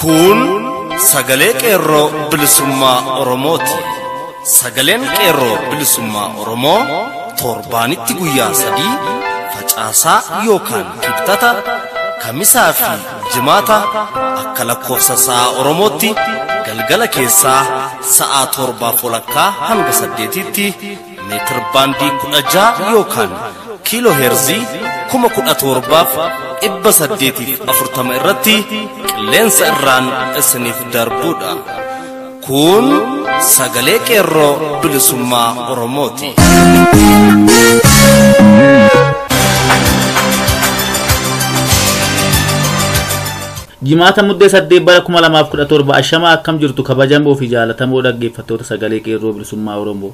Kun sagalee qeerroo bilisummaa Oromooti. Sagaleen qeerroo bilisummaa Oromoo torbaanitti guyyaa sadii facaasaa yookaan kibxata kamisaa fi Jimaata akka lakkoofsa sa'a Oromootti galgala keessaa sa'a torbaaf walakkaa hanga saddeetiitti meetir baandii kudha ja'a yookaan kiiloo heerzii kuma kudha torbaaf dhibba saddeetiif afurtama irratti qilleensa irraan isiniif darbuudha. Kun sagalee qeerroo bilisummaa Oromooti. Jimaata muddee saddeet bara 2017 ashama akkam jirtu kabajamoo fi jaalatamoo dhaggeeffattoota sagalee qeerroo bilisummaa Oromoo.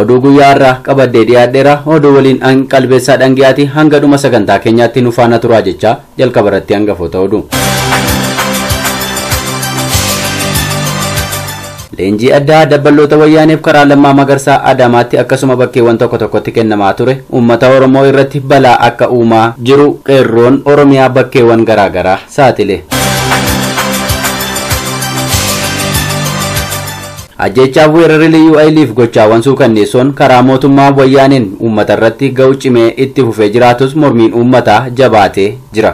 Oduu guyyaa har'aa qabadhee dhiyaadheera. Oduu waliin an qalbeessaa dhangiyaati hanga dhuma sagantaa keenyaatti nu faana turaa jechaa jalqaba irratti hangafoota oduu. Leenjii addaa dabballoota wayyaaneef karaa lammaa magarsaa Adaamaatti akkasuma bakkeewwan tokko tokkotti kennamaa ture uummata Oromoo irratti balaa akka uumaa jiru qeerroon Oromiyaa bakkeewwan garaagaraa saaxile. Ajjeechaaf weerarri liyyuu ayiliif gochaawwan suukanneessoon karaa mootummaa wayyaaneen uummata irratti ga'u cimee itti fufee jiraatus mormiin uummataa jabaatee jira.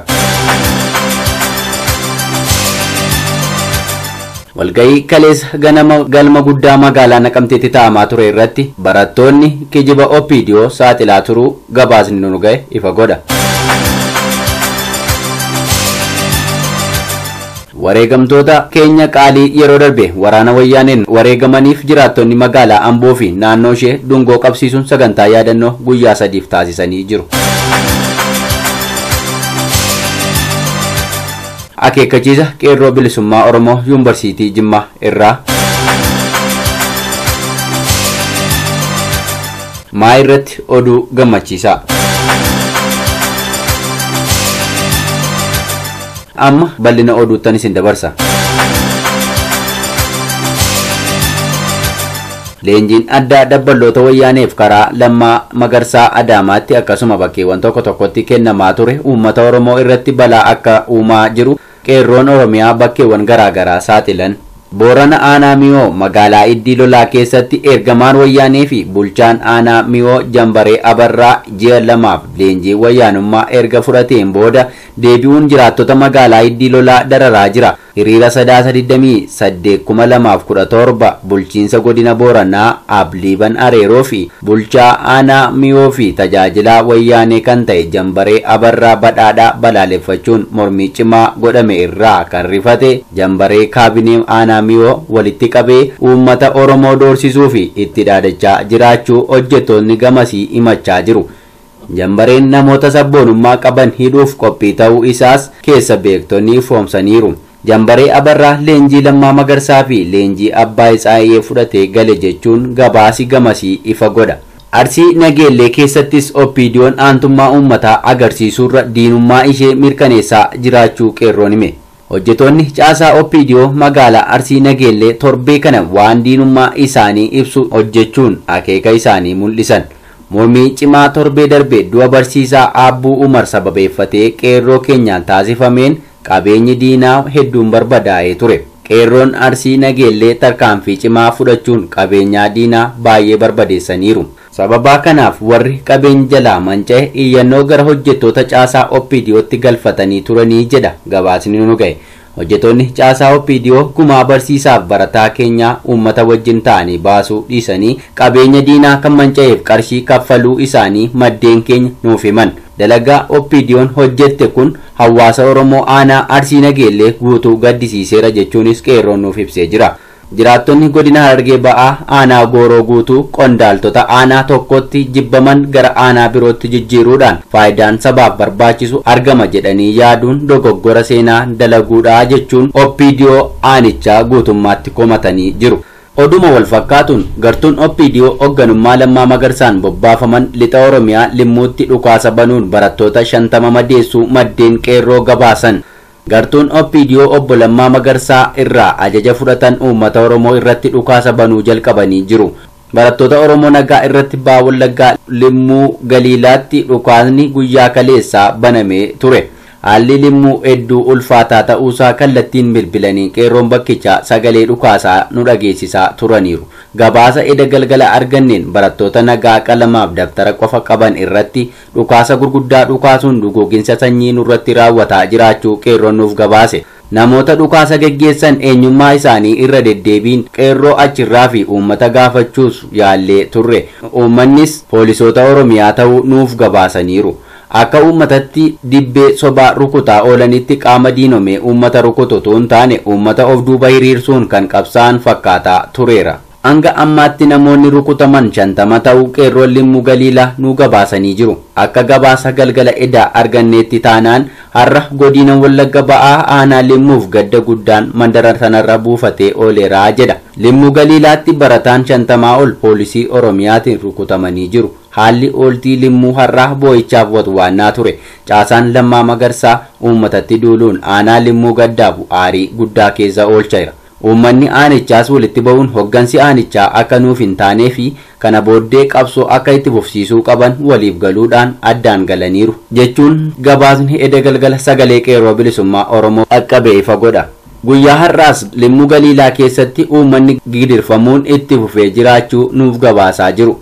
Walga'ii kaleessa ganama galma guddaa magaalaa Naqamteetti taa'amaa ture irratti barattoonni kijiba OPDO saaxilaa turuu gabaasni nu ga'e ifa godha. Wareegamtoota keenya qaalii yeroo darbe waraana Wayyaaneen wareegamaniif jiraattonni magaalaa Amboo fi naannoo ishee dungoo qabsiisuun sagantaa yaadannoo guyyaa sadiif taasisanii jiru. Akeekkachiisa Qeerroo Bilisummaa Oromoo Yuunvarsiitii Jimmaa irraa. Maa irratti oduu gammachiisaa. Amma bal'ina oduuttan isin dabarsa. Leenjiin addaa dabballoota wayyaaneef karaa Lammaa Magarsaa Adaamaatti akkasuma bakkeewwan tokko tokkotti kennamaa ture uummata Oromoo irratti balaa akka uumaa jiru qeerroon Oromiyaa bakkeewwan garaagaraa saaxilan. Boorana Aanaa Miyoo magaalaa Iddii Lolaa keessatti ergamaan wayyaanee fi bulchaan Aanaa Miyoo Jambaree Abarraa ji'a lamaaf leenjii wayyaanummaa erga fudhateen booda deebi'uun jiraattota magaalaa Iddii Lolaa dararaa jira. Hiriira Sadaasa 28,2017 Bulchiinsa Godina Booranaa Aab Liiban Areeroo fi Bulchaa Aanaa Miyoo fi Tajaajilaa Wayyaanee kan ta'e Jambaree Abarraa Badhaadhaa balaaleffachuun mormii cimaa godhame irraa kan rifate Jambaree Kaabinee Aanaa Miyoo walitti qabee uummata Oromoo doorsisuu fi itti dhaadachaa jiraachuu hojjettootni gamasii himachaa jiru. Jambareen namoota sabboonummaa qaban hidhuuf qophii ta'uu isaas keessa beektonni ifoomsaniiru. Jambaree Abarraa leenjii Lammaa Magarsaa fi leenjii Abbaay Tsaayee fudhatee gale jechuun gabaasi gamasii ifa godha. Arsii Nageellee keessattis OPDOn aantummaa uummataa agarsiisuurra diinummaa ishee mirkaneessaa jiraachuu Qeerroon hime. Hojjetoonni caasaa OPDO magaalaa Arsii Nageellee torbee kana waan diinummaa isaanii ibsu hojjechuun akeeka isaanii mul'isan. Mormii cimaa torbee darbe du'a barsiisaa Aabbuu Umar sababeeffatee qeerroo keenyaan taasifameen qabeenyi diinaa hedduun barbadaa'ee ture. Qeerroon Arsii Nageellee tarkaanfii cimaa fudhachuun qabeenyaa diinaa baay'ee barbadeessaniiru. Sababaa kanaaf warri qabeenyi jalaa manca'e iyyannoo gara hojjettoota caasaa OPDOtti galfatanii turanii jedha gabaasni nu ga'e. Hojjetoonni caasaa OPDO gumaa barsiisaaf barataa keenyaa uummata wajjin ta'anii baasuu dhiisanii qabeenya diinaa kan manca'eef qarshii kaffaluu isaanii maddeen keenya nuuf himan. Dalagaa OPDOn hojjette kun hawwaasa Oromoo aanaa Arsii Nageellee guutuu gaddisiiseera jechuunis Qeerroon nuuf ibsee jira. Jiraattonni Godina Harargee Ba'aa Aanaa Gooroo Guutuu qondaaltota aanaa tokkotti jibbaman gara aanaa birootti jijjiiruudhaan faayidaan sabaaf barbaachisu argama jedhanii yaaduun dogoggora seenaa dalaguudha jechuun opdo aanichaa guutummaatti komatanii jiru. Oduuma walfakkaatuun, gartuun opdo hogganummaa Lammaa Magarsaan bobbaafaman Lixa Oromiyaa Limmuutti dhukaasa banuun barattoota 50 madeessuu maddeen Qeerroo gabaasan. Gartuun OPDO Obbo Lammaa Magarsaa irraa ajaja fudhatan uummata Oromoo irratti dhukaasa banuu jalqabanii jiru. Barattoota Oromoo nagaa irratti Baha Wallaggaa Limmuu Galiilaatti dhukaasni guyyaa kaleessaa banamee ture. Haalli Limmuu hedduu ulfaataa ta'uusaa kallattiin bilbilanii qeerroon bakkichaa sagalee dhukaasaa nu dhageessisaa turaniiru. Gabaasa eda galgala arganneen barattoota nagaa qalamaaf dabtara qofa qaban irratti Dhukaasa gurguddaa dhukaasuun duguuginsa sanyii nurratti raawwataa jiraachuu Qeerroon nuuf gabaase. Namoota dhukaasa geggeessan eenyummaa isaanii irra deddeebiin Qeerroo achirraa fi uummata gaafachuus yaallee turre. Uummannis poolisoota Oromiyaa ta'uu nuuf gabaasaniiru. Akka uummatatti dibbee sobaa rukutaa oolanitti qaama diinomee uummata rukutu utuu hin taane uummata of duuba hiriirsuun kan qabsaa'an fakkaataa tureera. Hanga ammaatti namoonni rukutaman shantama ta'uu qeerroon Limmu Galiilaa nuu gabaasanii jiru. Akka gabaasa galgala edaa arganneetti taanaan har'a godiina Wallagga Ba'aa aanaa Limmuuf gadda guddaan mandara sanarra buufatee ooleera jedha. Limmu Galiilaatti barataan shantamaa ol poolisii Oromiyaatiin rukutamanii jiru. Haalli ooltii Limmuu har'aa boo'ichaaf watwaannaa ture. Caasaan Lammaa Magarsaa uummatatti duuluun aanaa Limmuu gaddaaf aarii guddaa keessa oolchaera. Uummanni aanichaas walitti ba'uun hoggansi aanichaa akka nuuf hin taanee fi kana booddee qabsoo akka itti fufsiisuu qaban waliif galuudhaan addaan galaniiru, jechuun gabaasni eda galgala Sagalee Qeerroo Bilisummaa Oromoo dhaqqabe ifa godha. Guyyaa har'aas Limmuu Galiilaa keessatti uummanni gidirfamuun itti fufee jiraachuu nuuf gabaasaa jiru.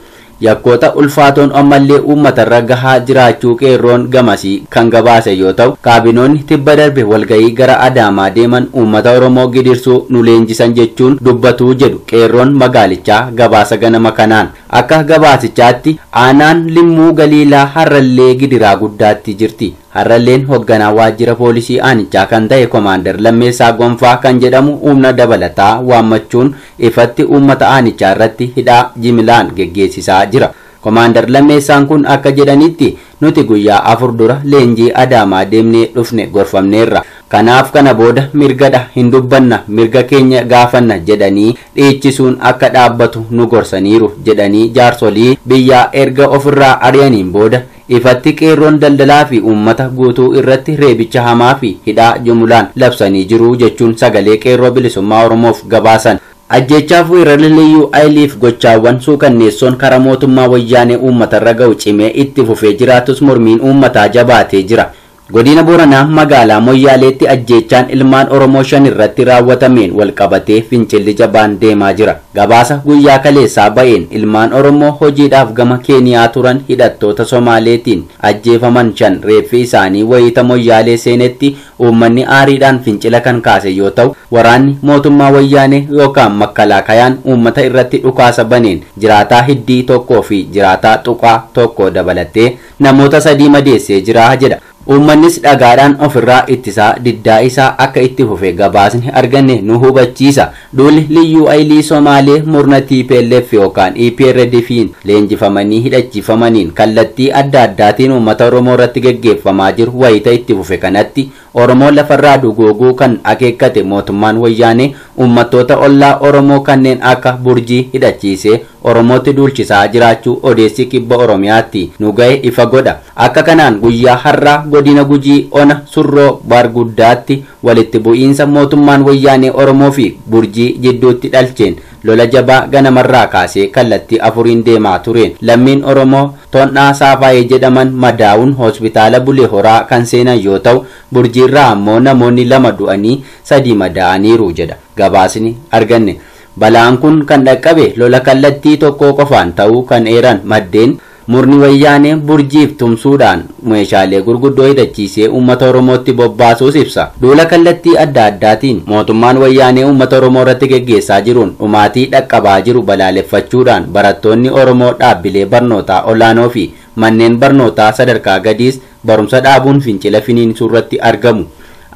Yakkoota ulfaatoon ammallee uummatarra gahaa jiraachuu Qeerroon gamasii kan gabaase yoo ta'u, kaabinoonni tibba darbe walgahii gara Adaamaa deeman uummata Oromoo gidirsuu nu leenjisan jechuun dubbatu jedhu Qeerroon magaalichaa gabaasa ganama kanaan. Akka gabaasichaatti, aanaan Limmuu Galiilaa har'allee gidiraa guddaatti jirti. Har'alleen hogganaa waajjira poolisii aanichaa kan ta'e Komaander Lammeessaa Gonfaa kan jedhamu humna dabalataa waammachuun ifatti uummata aanichaa irratti hidhaa jimilaan geggeessisaa jira. Komaander Lammeessaan kun akka jedhanitti, nuti guyyaa afur dura leenjii Adaamaa deemnee dhufne gorfamneerra. Kanaaf kana booda mirgadha, hin dubbanna, mirga keenya gaafanna jedhanii dhiichisuun akka dhaabbatu nu gorsaniiru jedhanii jaarsolii biyyaa erga ofirraa ari'aniin booda Ifatti Qeerroon daldalaa fi uummata guutuu irratti reebicha hamaa fi hidhaa jumulaan labsanii jiru jechuun Sagalee Qeerroo Bilisummaa Oromoof gabaasan. Ajjeechaaf weerarri Liyyuu Ayiliif gochaawwan suukanneessoon kara mootummaa Wayyaanee uummatarra ga'u cimee itti fufee jiraatus mormiin uummataa jabaatee jira. Godina Booranaa magaalaa Moyyaaleetti ajjeechaan ilmaan Oromoo shan irratti raawwatameen wal qabatee fincilli jabaan deemaa jira. Gabaasa guyyaa kaleessaa ba'een ilmaan Oromoo hojiidhaaf gama Keeniyaa turan hidhattoota Somaaleetiin ajjeefaman shan reeffi isaanii wayiita Moyyaalee seenetti uummanni aariidhaan fincila kan kaase yoo ta'u, waraanni mootummaa Wayyaanee yookaan Makkalaakayaan uummata irratti dhukaasa baneen jiraataa Hiddii tokkoo fi jiraataa Tuqaa tokko dabalatee namoota sadii madeessee jira jedha. Uummannis dhagaadhaan ofirraa ittisaa diddaa isaa akka itti fufe gabaasni arganne nu hubachiisa. Duulli Liyyuu Ayilii Somaalee murna tplf yookaan EPRDFiin leenjifamanii hidhachiifamaniin kallattii adda addaatiin uummata Oromoo irratti geggeeffamaa jiru wayita itti fufe kanatti, Oromoo lafarraa duguuguu kan akeekkate mootummaan Wayyaanee uummattoota ollaa Oromoo kanneen akka Burjii hidhachiisee Oromootti duulchisaa jiraachuu odeessi Kibba Oromiyaatti nu gahe ifa godha. Akka kanaan guyyaa har'aa Godina Gujii Ona Surroo Baarguddaatti walitti bu'iinsa mootummaan Wayyaanee Oromoo fi Burjii jidduutti dhalcheen Lola jabaa ganamarraa kaasee kallattii afuriin deemaa tureen lammiin Oromoo Tondhaa Saafaayee jedhaman madaa'uun Hospitaala Bulee Horaa kan seenan yoo ta'u, Burjiirraa ammoo namoonni lama du'anii sadii madaa'aniiru jedha gabaasni arganne. Balaan kun kan dhaqqabe lola kallattii tokkoo qofaan ta'uu kan eeran maddeen, Murni Wayyaanee Burjiif tumsuudhaan meeshaalee gurguddoo hidhachiisee uummata Oromootti bobbaasuus ibsa. Duula kallattii adda addaatiin mootummaan Wayyaanee uummata Oromoo irratti geggeessaa jiruun dhumaatii dhaqqabaa jiru balaaleffachuudhaan barattoonni Oromoo dhaabbilee barnootaa olaanoofi manneen barnootaa sadarkaa gadiis barumsa dhaabuun fincila finiinsuurratti argamu.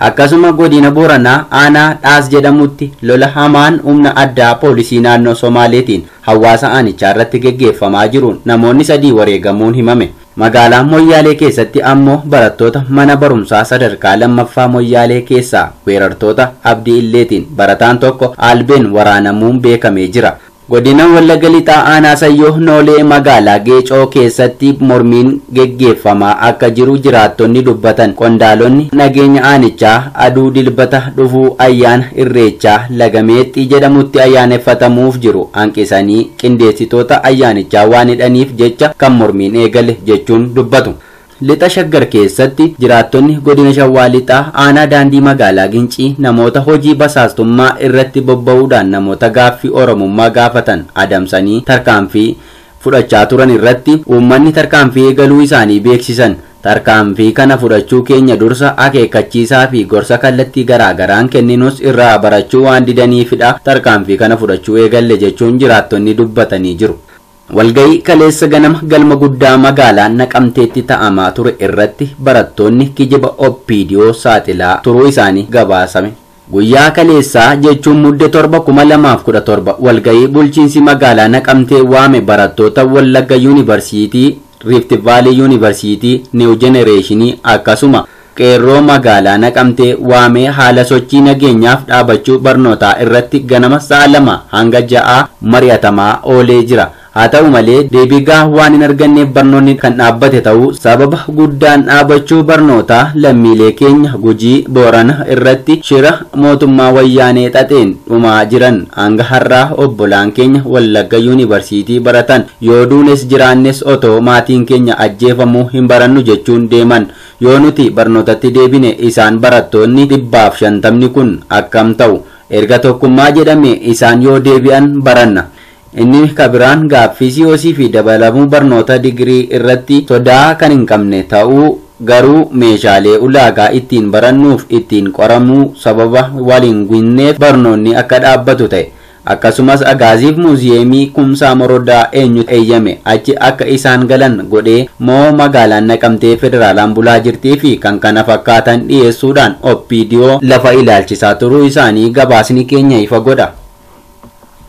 Akkasuma Godina Booranaa aanaa Dhaas jedhamutti lola hamaan humna addaa poolisii naannoo Somaaleetiin hawaasa aanichaarratti geggeeffamaa jiruun namoonni sadii wareegamuun himame. Magaalaa Moyyaalee keessatti ammoo barattoota mana barumsaa sadarkaa lammaffaa Moyyaalee keessaa weerartoota Abdi Illeetiin barataan tokko albeen waraanamuun beekamee jira. Godina Wallagga Lixaa Aanaa Sayyoo Noolee Magaalaa Geecoo keessatti mormiin geggeeffamaa akka jiru jiraattonni dubbatan. Qondaalonni nageenya aanichaa aduu Dilbata dhufu ayyaana Irreechaa Laga Meexxii jedhamutti ayyaaneffatamuuf jiru hanqisanii qindeessitoota ayyaanichaa waan hidhaniif jecha kan mormiin eegale jechuun dubbatu. Lixa Shaggar keessatti jiraattonni Godina Shawaa Lixaa Aanaa Daandii Magaalaa Gincii namoota hojii basaastummaa irratti bobba'uudhaan namoota gaaffii Oromummaa gaafatan adamsanii tarkaanfii fudhachaa turan irratti uummanni tarkaanfii eegaluu isaanii beeksisan. Tarkaanfii kana fudhachuu keenya dursa akeekkachiisaa fi gorsa kallattii garaa garaan kenninus irraa barachuu waan didaniifidha tarkaanfii kana fudhachuu eegalle jechuun jiraattonni dubbatanii jiru. Walga'ii kaleessa ganama galma guddaa magaalaa Naqamteetti ta'amaa ture irratti barattoonni kijiba OPDO saaxilaa turuu isaanii gabaasame. Guyyaa kaleessaa jechuun Mudde 7/2017 walga'ii bulchiinsi magaalaa Naqamtee waame barattoota Wallagga Yuunivarsiitii, Riifti Vaalii Yuunivarsiitii, Niiw Jenereeshinii akkasuma Qeerroo Magaalaa Naqamtee waamee haala sochii nageenyaaf dhaabachuu barnootaa irratti ganama sa'a 2:00 hanga 6:00 mari'atamaa oolee jira. Haa ta'u malee deebii gahaa waan hin arganneef barnoonni kan dhaabbate ta'uu sababa guddaan dhaabachuu barnootaa lammiilee keenya Gujii, Boorana irratti shira mootummaa Wayyaanee xaxeen dhumaa jiran hanga har'aa obbolaan keenya Wallagga Yuunibarsiitii baratan yoo duunes jiraannes otoo maatiin keenya ajjeefamuu hin barannu jechuun deeman Yoo nuti barnootatti deebine isaan barattoonni dhibbaaf shantamni kun akkam ta'u? Erga tokkummaa jedhamee isaan yoo deebi'an baranna. Inni ka biraan gaaffii COC fi dabalamuu barnoota digirii irratti sodaa kan hin qabne ta'uu garuu meeshaalee ulaagaa ittiin barannuuf ittiin qoramuu sababa wal hin ginneef barnoonni akka dhaabbatu ta'e. Akkasumas Agaaziif Muuziyeemii Kumsaa Morodaa eenyutu eeyyame achi akka isaan galan godhee moo magaalaan Naqamtee federaalaan bulaa jirtii fi kkf dhiyeessuudhaan opdo lafa ilaalchisaa turuu isaanii gabaasni keenya ifa godha.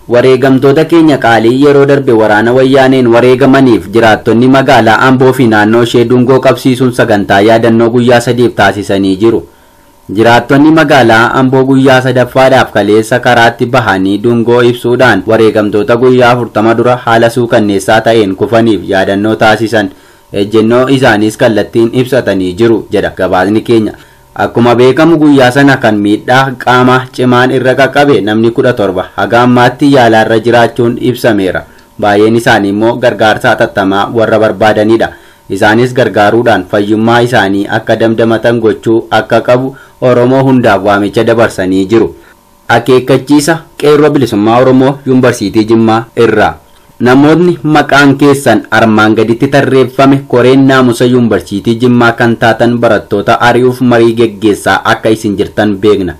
Wareegamtoota keenya qaalii yeroo darbe waraana wayyaaneen wareegamaniif jiraattonni magaalaa Amboo fi naannoo ishee dungoo qabsiisuun sagantaa yaadannoo guyyaa sadiif taasisanii jiru. Jiraattonni magaalaa Amboo guyyaa sadaffaadhaaf kaleessa karaatti bahanii dungoo ibsuudhaan wareegamtoota guyyaa 40 dura haala suukanneessaa ta'een kufaniif yaadannoo taasisan ejjennoo isaaniis kallattiin ibsatanii jiru jedha gabaasni keenya. Akkuma beekamu guyyaa sana kan miidhaa qaamaa cimaan irra qaqqabe namni 17 haga ammaatti yaalaarra jiraachuun ibsameera. Baay'een isaaniimmoo gargaarsa hatattamaa warra barbaadanidha. Isaanis gargaaruudhaan fayyummaa isaanii akka damdamatan gochuu akka qabu Oromoo hundaaf waamicha dabarsanii jiru. Akeekkachiisa Qeerroo Bilisummaa Oromoo Yuunvarsiitii Jimmaa irraa. Namootni maqaan keessan armaan gaditti tarreeffame koreen naamusa Yuunvarsiitii Jimmaa kan taatan barattoota ari'uuf marii geggeessaa akka isin jirtan beekna.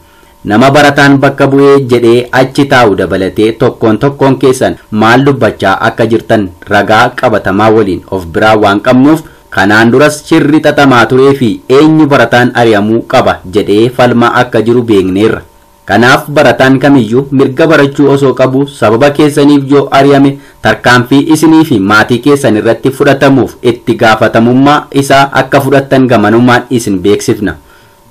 Nama barataan bakka bu'e jedhee achi taa'u dabalatee tokkoon tokkoon keessan maal dubbachaa akka jirtan ragaa qabatamaa waliin of biraa waan qabnuuf kanaan duras shirri xaxamaa turee fi eenyu barataan ari'amuu qaba jedhee falmaa akka jiru beekneerra. Kanaaf barataan kamiyyuu mirga barachuu osoo qabuu sababa keessaniif yoo ari'ame tarkaanfii isinii fi maatii keessan irratti fudhatamuuf itti gaafatamummaa isaa akka fudhattan gamanumaan isin beeksifna.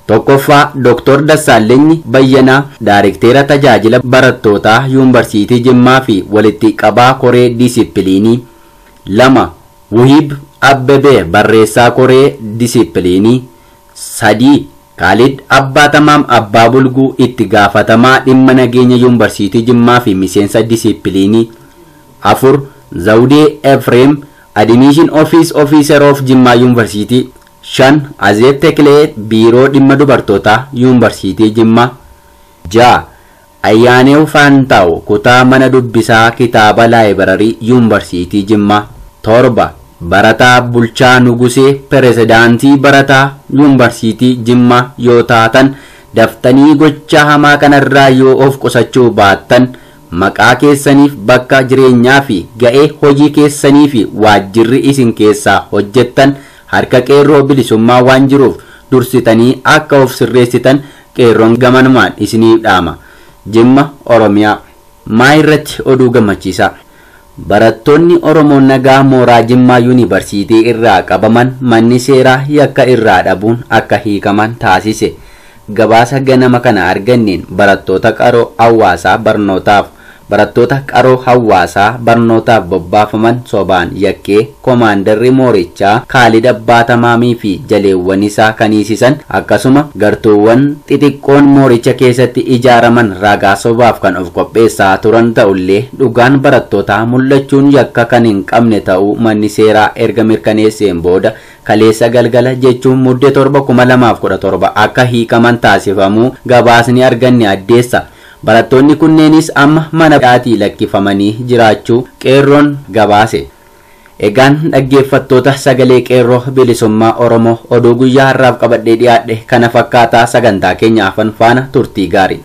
1ffaa Doktor Dassaallenyi Bayyanaa Daarekteera Tajaajila Barattootaa Yuunvarsiitii Jimmaa fi Walitti Qabaa Koree Diisippiliinii. 2, Wuhiib Abbebee Barreessaa Koree Diisippiliinii. 3, Kaalid Abbaatamaam Abbaa Bulguu Itti Gaafatamaa Dhimma Nageenya Yuunvarsiitii Jimmaa fi Miseensa Diisippiliinii. 4, Zawudee Efreem Admission Office Officer of Jimmaa Yuunvarsiitii. 5, Azeeb Teklee, Biiroo Dhimma Dubartootaa Yuunvarsiitii Jimmaa. 6, Ayyaanew Faantaaw, Kutaa Mana Dubbisaa Kitaaba Laayibararii Yuunvarsiitii Jimmaa. 7, Barataa Bulchaa Nugusee, Pirezidaantii Barataa Yuunvarsiitii Jimmaa yoo taatan, daftanii gochaa hamaa kanarraa yoo of qusachuu baattan, maqaa keessaniif, bakka jireenyaa fi ga'ee hojii keessanii fi waajjirri isin keessaa hojjettan, Harka Qeerroo Bilisummaa waan jiruuf dursitanii akka of sirreessitan Qeerroon gamanumaan isiniif dhaama. Jimma, Oromiyaa. Maa irratti oduu gammachiisaa. Barattoonni Oromoo nagaa mooraa Jimmaa Yuunibarsiitii irraa qabaman manni seeraa yakka irraa dhabuun akka hiikaman taasise. Gabaasa ganama kana arganneen barattoota qaroo hawwaasaa barnootaaf Barattoota qaroo hawwaasaa barnootaaf bobbaafaman sobaan yakkee komaandarri moorichaa Kaalid Abbaa Tamaamii fi jaleewwan isaa kan hiisisan akkasuma gartuuwwan xixiqqoon mooricha keessatti ijaaraman ragaa sobaaf kan of qopheessaa turan ta'ullee dhugaan barattootaa mul'achuun yakka kan hin qabne ta'uu manni seeraa erga mirkaneesseen booda kaleessa galgala jechuun Mudde 7/2017 akka hiikaman taasifamuu gabaasni arganne addeessa. Barattoonni kunneenis amma mana hidhaatii lakkifamanii jiraachuu Qeerroon gabaase. Egaan dhaggeeffattoota Sagalee Qeerroo Bilisummaa Oromoo oduu guyyaa har'aaf qabadhee dhiyaadhe kana fakkaata sagantaa keenya hafan faana turtii gaarii.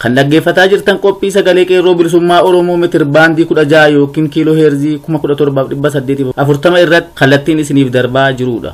Kan dhaggeeffataa jirtan qophii sagalee qeerroo bilisummaa Oromoo meetir baandii 16 yookiin kiiloo heerzii 17,840 irratti kallattiin isiniif darbaa jirudha.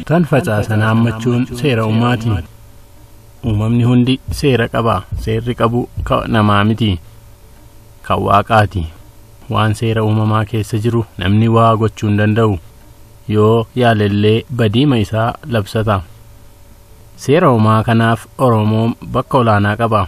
Kan facaasan haammachuun seera uumaati. Uumamni hundi seera qaba. Seerri qabu kan namaa miti. Kan waaqaati. Waan seera uumamaa keessa jiru namni waa gochuu hin danda'u. Yoo yaalellee badiima isaa labsata. Seera uumaa kanaaf Oromoon bakka olaanaa qaba.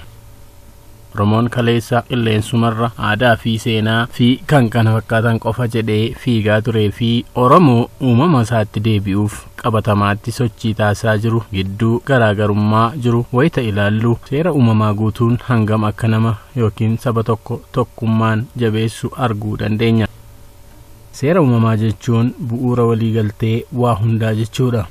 Oromoon kaleessa qilleensumarra aadaa fi seenaa fi kan kana fakkaatan qofa jedhee fiigaa turee fi Oromoo uumama isaatti deebi'uuf qabatamaatti sochii taasisaa jiru gidduu garaagarummaa jiru wayita ilaallu seera uumamaa guutuun hangam akka nama yookiin saba tokko tokkummaan jabeessu arguu dandeenya. Seera uumamaa jechuun bu'uura waliigaltee waa hundaa jechuudha.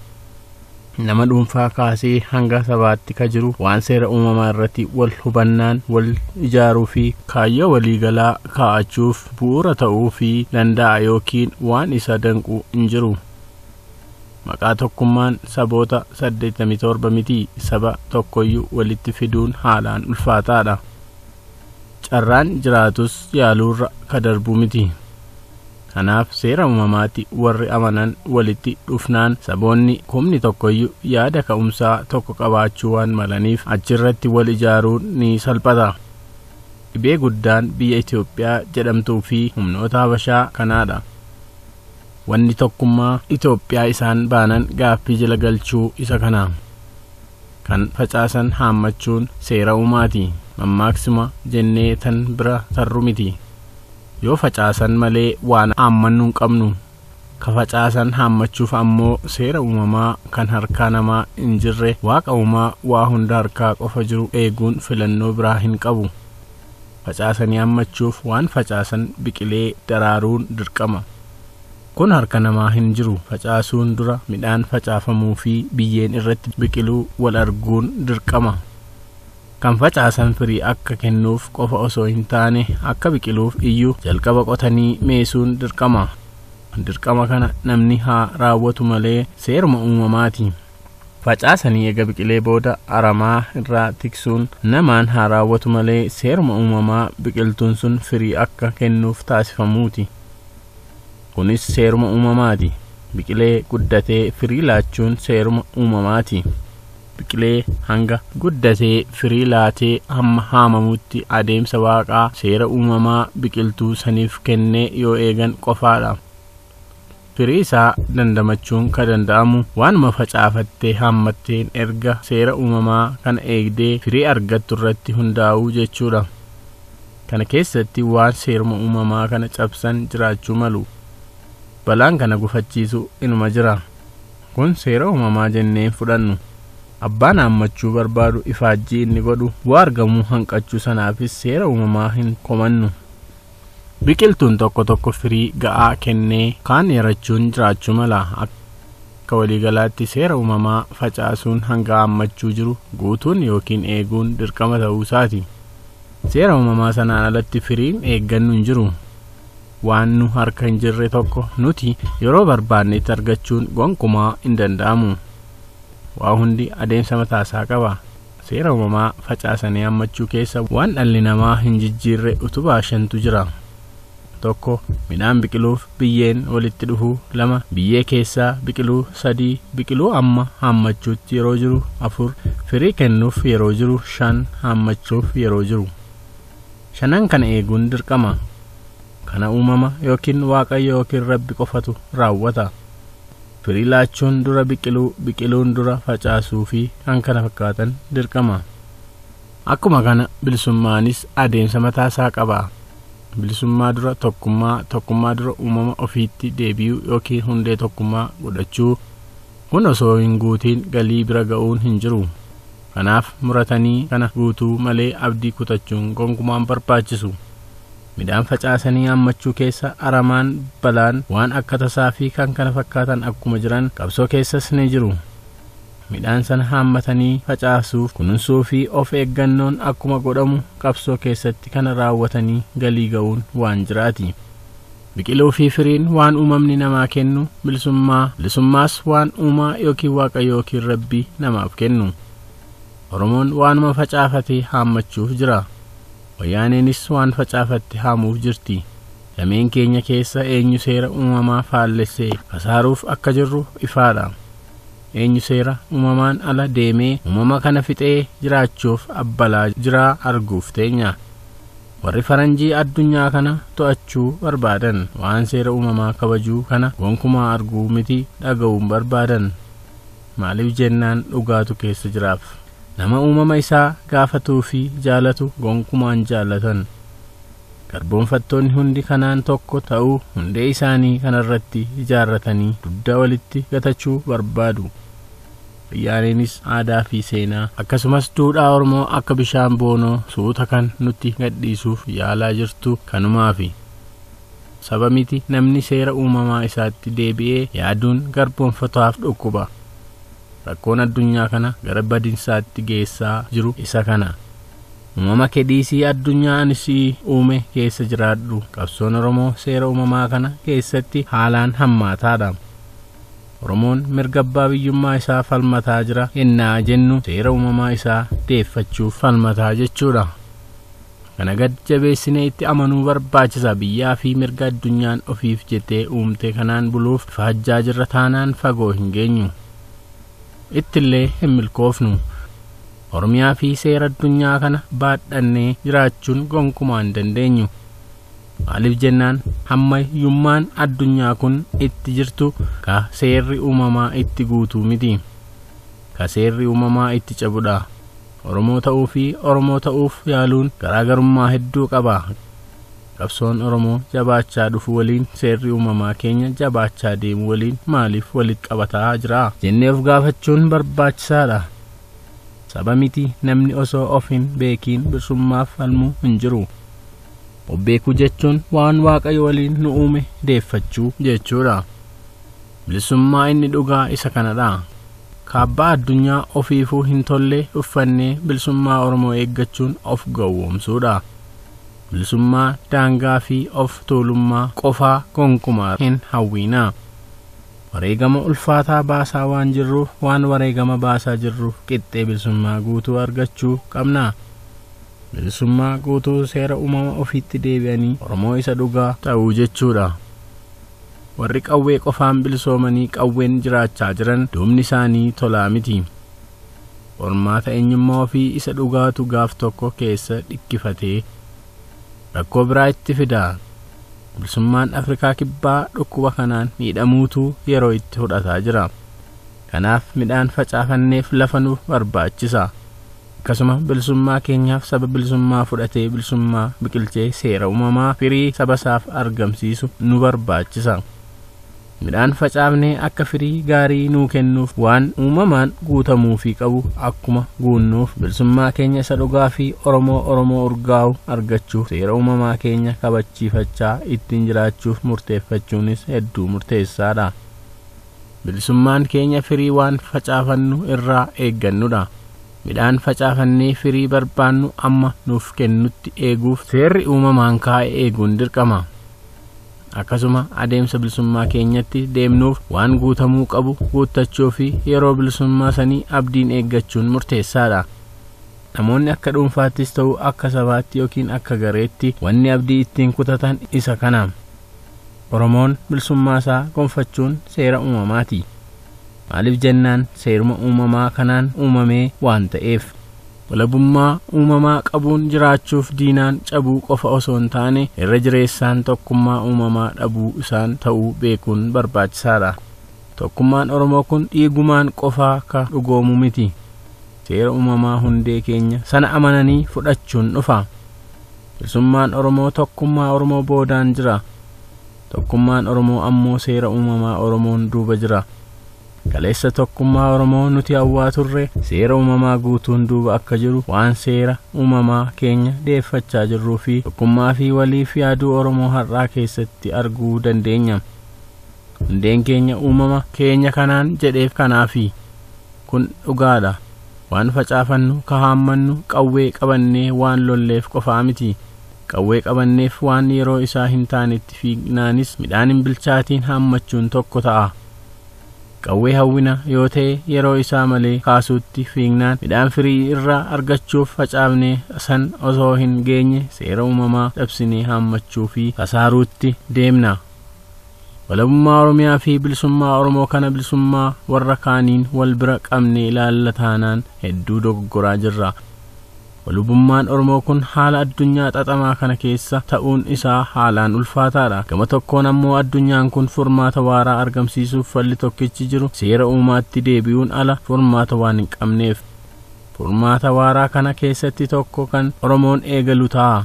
nama dhuunfaa kaasee hanga sabaatti ka jiru waan seera uumamaa irratti wal hubannaan wal ijaaruu fi kaayyoo waliigalaa kaa'achuuf bu'uura ta'uu fi danda'a yookiin waan isa danqu hin jiru. Maqaa tokkummaan saboota 87 miti saba tokkoyyuu walitti fiduun haalaan ulfaataadha. Carraan jiraatus yaaluurra ka darbu miti. Kanaaf seera uumamaatti warri amanan walitti dhufnaan saboonni kumni tokkoyyu yaada ka'umsaa tokko qabaachuu waan malaniif achirratti wal ijaaruun ni salphata. Dhibee guddaan biyya Itoophiyaa jedhamtuu fi humnoota Habashaa kanaadha. Wanni tokkummaa Itoophiyaa isaan baanan gaaffii jala galchuu isa kana. Kan facaasan haammachuun seera uumaati. Mammaaksuma jennee tan bira tarru miti. Yoo facaasan malee waan haammannu hin qabnu. Ka facaasan haammachuuf ammoo seera uumamaa kan harkaa namaa hin jirre Waaqa uumaa waa hunda harkaa qofa jiru eeguun filannoo biraa hin qabu. Facaasanii haammachuuf waan facaasan biqilee daraaruun dirqama. Kun harka namaa hin jiru. Facaasuun dura midhaan facaafamuu fi biyyeen irratti biqiluu wal arguun dirqama. Kan facaasan firii akka kennuuf qofa osoo hin taane akka biqiluuf iyyuu jalqaba qotanii meesuun dirqama. Dirqama kana namni haa raawwatu malee seeruma uumamaati. Facaasanii ega biqilee booda aramaa irraa tiksuun namaan haa raawwatu malee seeruma uumamaa biqiltuun sun firii akka kennuuf taasifamuuti. Kunis seeruma uumamaati. Biqilee guddatee firii laachuun seeruma uumamaati. biqilee hanga. guddatee firii laatee hamma haamamutti adeemsa waaqaa, seera uumamaa biqiltuu saniif kennee yoo eegan qofaadha. Firii isaa dandamachuun ka danda'amu waanuma facaafattee haammatteen erga seera uumamaa kana eegdee firii argattu irratti hundaa'uu jechuudha. Kana keessatti waan seeruma uumamaa kana cabsan jiraachuu malu. Balaan kana gufachiisu inuma jira. Kun seera uumamaa jennee hin fudhannu. Abbaan haammachuu barbaadu ifaajjii inni godhu bu'aa argamuu hanqachuu sanaafis seera uumamaa hin komannu. Biqiltuun tokko tokko firii ga'aa kennee kaan yarachuun jiraachuu mala. Akka waliigalaatti seera uumamaa facaasuun hanga haammachuu jiru guutuun yookiin eeguun dirqama ta'uu isaati. Seera uumamaa sanaan alatti firiin eeggannu hin jiru. waan nu harka hin jirre tokko nuti yeroo barbaannetti argachuun gonkumaa hin danda'amu. Waa hundi adeemsa mataasaa qaba. Seera uumamaa facaasanii hammachuu keessa waan dhalli namaa hin jijjiirre utubaa shantu jira. tokko midhaan biqiluuf biyyeen walitti dhufu lama biyyee keessaa biqiluu sadii biqiluu amma hammachuutti yeroo jiru afur firii kennuuf yeroo jiru shan hammachuuf yeroo jiru. Shanan kana eeguun dirqama. Kana uumama yookiin Waaqayyo yookiin Rabbi qofatu raawwata. Firii laachuun dura biqiluu, biqiluun dura facaasuu fi kan kana fakkaatan dirqama. Akkuma kana bilisummaanis adeemsa mataa isaa qaba. Bilisummaa dura tokkummaa, tokkummaa dura uumama ofiitti deebi'uu yookiin hundee tokkummaa godhachuu. Kun osoo hin guutiin galii bira ga'uun hin jiru. Kanaaf muratanii kana guutuu malee abdii kutachuun gonkumaa hin barbaachisu. Midhaan facaasanii haammachuu keessa aramaan, balaan, waan akka tasaa fi kkf akkuma jiran qabsoo keessas ni jiru. Midhaan sana haammatanii facaasuuf kununsuu fi of eeggannoon akkuma godhamu qabsoo keessatti kana raawwatanii galii ga'uun waan jiraati. Biqiluu fi firiin waan uumamni namaa kennu bilisummaa, bilisummaas waan uumaa yookiin waaqa yookiin rabbi namaaf kennu. Oromoon waanuma facaafate haammachuuf jira. Wayyaaneenis waan facaafatte haamuuf jirti. Dameen keenya keessa eenyu seera uumamaa faallesse kasaaruuf akka jirru ifaadha. Eenyu seera uumamaan ala deemee uumama kana fixee jiraachuuf abbalaa jiraa arguuf teenya. Warri faranjii addunyaa kana to'achuu barbaadan waan seera uumamaa kabajuu kana gonkumaa arguu miti dhaga'uun barbaadan. Maaliif jennaan dhugaatu keessa jiraaf. Nama uumama isaa gaafatuu fi jaalatu gonkumaan jaallatan. Garboonfattoonni hundi kanaan tokko ta'uu hundee isaanii kanarratti ijaarratanii dugda walitti gatachuu barbaadu. Wayyaaneenis aadaa fi seenaa akkasumas duudhaa Oromoo akka bishaan boonoo suuta kan nutti gadhiisuuf yaalaa jirtu kanumaafi. Saba miti namni seera uumamaa isaatti deebi'ee yaaduun garboomfatotaaf dhukkuba. Rakkoon addunyaa kana gara badinsaatti geessaa jiru isa kana. Uumama kee dhiisii addunyaa ani si uume keessa jiraadhu. Qabsoon Oromoo seera uumamaa kana keessatti haalaan hammaataadha. Oromoon mirga abbaa biyyummaa isaa falmataa jira ennaa jennu seera uumamaa isaa deeffachuuf falmataa jechuudha. Kana gad jabeessinee itti amanuu barbaachisa. Biyyaa fi mirga addunyaan ofiif jettee uumte kanaan buluuf ifaajjaa jirra taanaan fagoo hin geenyu. Ittillee hin milkoofnu. Oromiyaa fi seera addunyaa kana baadhannee jiraachuun gonkumaa hin dandeenyu. Maaliif jennaan hammayyummaan addunyaa kun itti jirtu ka seerri uumamaa itti guutuu miti. Ka seerri uumamaa itti cabudha. Oromoo ta'uu fi Oromoo ta'uuf yaaluun garaagarummaa hedduu qaba. Qabsoon Oromoo jabaachaa dhufu waliin seerri uumamaa keenya jabaachaa deemu waliin maaliif walitti qabataa jira? jennee of gaafachuun barbaachisaadha. Saba miti namni osoo of hin beekiin birsummaaf falmu hin jiru. Of beekuu jechuun waan Waaqayyo waliin nu uume deeffachuu jechuudha. Bilisummaa inni dhugaa isa kanadha. Kaabbaa addunyaa ofiifuu hin tolle uffannee bilisummaa Oromoo eeggachuun of gowwoomsuudha. Bilisummaa daangaa fi of tuulummaa qofaa gonkumaa hin hawwiina. Wareegama ulfaataa baasaa waan jirruuf waan wareegama baasaa jirruuf qixxee bilisummaa guutuu argachuu qabna. Bilisummaa guutuu seera uumama ofiitti deebi'anii Oromoo isa dhugaa. ta'uu jechuudha. Warri qawwee qofaan bilisoomanii qawween jiraachaa jiran duubni isaanii tolaa miti. Qormaata eenyummaa ofii isa dhugaatu gaaf tokko keessa dhikkifatee rakkoo biraa itti fida. Bilisummaan Afrikaa Kibbaa dhukkuba kanaan miidhamuutu yeroo itti fudhataa jira. Kanaaf midhaan facaafanneef lafa nu barbaachisa. Akkasuma bilisummaa keenyaaf saba bilisummaa fudhatee bilisummaa biqilchee seera uumamaa firii sabasaaf argamsiisu nu barbaachisa. Midhaan facaafnee akka firii gaarii nuu kennuuf waan uumamaan guutamuufii qabu akkuma guunnuuf bilisummaa keenya isa dhugaa fi Oromoo Oromoo urgaa'u argachuuf seera uumamaa keenya kabachiifachaa ittiin jiraachuuf murteeffachuunis hedduu murteessaadha. Bilisummaan keenya firii waan facaafannu irraa eeggannudha. Midhaan facaafannee firii barbaannu amma nuuf kennutti eeguuf seerri uumamaan kaa'e eeguun dirqama. Akkasuma adeemsa bilisummaa keenyatti deemnuuf waan guutamuu qabu guuttachuu fi yeroo bilisummaa sanii abdiin eeggachuun murteessaadha. Namoonni akka dhuunfaattis ta'u akka sabaatti yookiin akka gareetti wanni abdii ittiin kutatan isa kana. Oromoon bilisummaa isaa gonfachuun seera uumamaati. Maaliif jennaan seeruma uumamaa kanaan uumamee waan ta'eef. Walabummaa uumamaa qabuun jiraachuuf diinaan cabuu qofa osoo hin taane irra jireessaan tokkummaa uumamaa dhabuu isaan ta'uu beekuun barbaachisaadha. Tokkummaan Oromoo kun dhiigumaan qofaa ka dhugoomu miti. Seera uumamaa hundee keenya sana amananii fudhachuun dhufa. Bilisummaan Oromoo tokkummaa Oromoo boodaan jira. Tokkummaan Oromoo ammoo seera uumamaa Oromoon duuba jira. Kaleessa tokkummaa Oromoo nuti hawwaa turre seera uumamaa guutuun duuba akka jiru waan seera uumamaa keenya deeffachaa jirruu fi tokkummaa fi waliif yaaduu Oromoo har'aa keessatti arguu dandeenya. Hundeen keenya uumama keenya kanaan jedheef kanaafi. Kun dhugaadha. Waan facaafannu, ka haammannu, qawwee qabannee waan lolleef qofaa miti. Qawwee qabanneef waan yeroo isaa hin taanetti fiignaanis midhaan hin bilchaatiin haammachuun tokko ta'a. Qawwee hawwina yoo ta'e yeroo isaa malee kaasuutti fiignaan midhaan firii irraa argachuuf facaafnee san osoo hin geenye seera uumamaa cabsinee haammachuu fi kasaaruutti deemna. Walabummaa Oromiyaa fi bilisummaa Oromoo kana bilisummaa warra kaaniin wal bira qabnee ilaalla taanaan hedduu dogoggoraa jirra. Walubummaan Oromoo kun haala addunyaa xaxamaa kana keessa ta'uun isaa haalaan ulfaataadha. Gama tokkoon ammoo addunyaan kun furmaata waaraa argamsiisuuf falli tokkichi jiru seera uumaatti deebi'uun ala furmaata waan hin qabneef. Furmaata waaraa kana keessatti tokko kan Oromoon eegalu ta'a.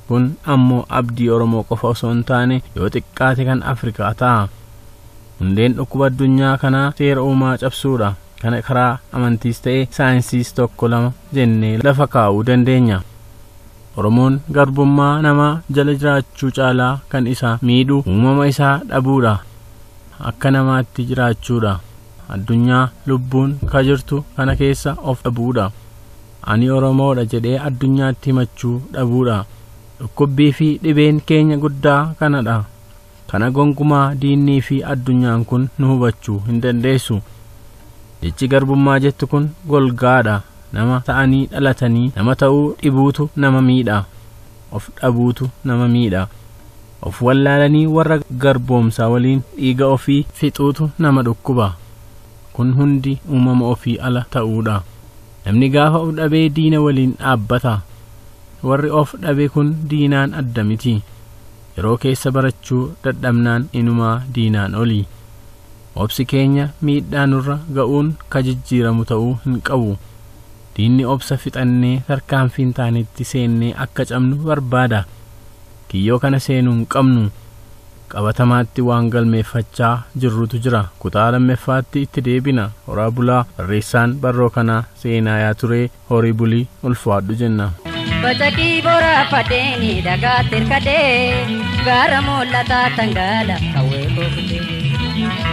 Kun ammoo abdii Oromoo qofa osoo hin taane yoo xiqqaate kan Afrikaa ta'a. Hundeen dhukkuba addunyaa kanaa seera uumaa cabsuudha. Kana karaa amantiis ta'e saayinsiis tokko lama jennee lafa kaa'uu dandeenya. Oromoon garbummaa namaa jala jiraachuu caalaa kan isa miidhu uumama isaa dhabuudha. Akka namaatti jiraachuudha. Addunyaa lubbuun ka jirtu kana keessa of dhabuudha. Ani Oromoodha jedhee addunyaatti himachuu dhabuudha. Dhukkubbii fi dhibeen keenya guddaa kanadha. Kana gonkumaa diinnii fi addunyaan kun nu hubachuu hin dandeessu. Jechi garbummaa jettu kun golgaadha. Nama ta'anii dhalatanii nama ta'uu dhibuutu nama miidha. Of dhabuutu nama miidha. Of wallaalanii warra garboomsaa waliin dhiiga ofii fixuutu nama dhukkuba. Kun hundi uumama ofii ala ta'uudha. Namni gaafa of dhabee diina waliin dhaabbata. Warri of dhabe kun diinaan adda miti. Yeroo keessa barachuu dadhabnaan inumaa diinaan oli. Obsi keenya miidhaa nurra ga'uun ka jijjiiramu ta'uu hin qabu. Diinni obsa fixannee tarkaanfiin taanetti seennee akka cabnu barbaada. Kiyyoo kana seenuu hin qabnu. Qabatamaatti waan galmeeffachaa jirrutu jira. Kutaa lammeffaatti itti deebina. Horaa bulaa. Barreessaan barroo kanaa Seenaayaa Turee. Horii buli. Ulfaadhu jenna. Bacaqii boraafadheeni dhagaa tirkadhee gaara mul'ataa tangaala qawwee kookutee.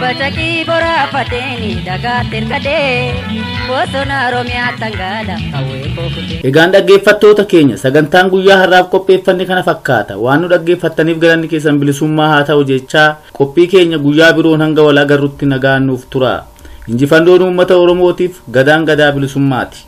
Bacaqii boraafadheeni dhagaa tirkadhee bosona Oromiyaa tangaala qawwee kookutee. Egaan dhaggeeffattoota keenya sagantaan guyyaa har'aaf qopheeffanne kana fakkaata waan nu dhaggeeffattaniif galanni keessan bilisummaa haa ta'u jechaa qophii keenya guyyaa biroon hanga wal agarrutti nagaan nuuf tura injifannoon uummata oromootiif gadaan gadaa bilisummaati.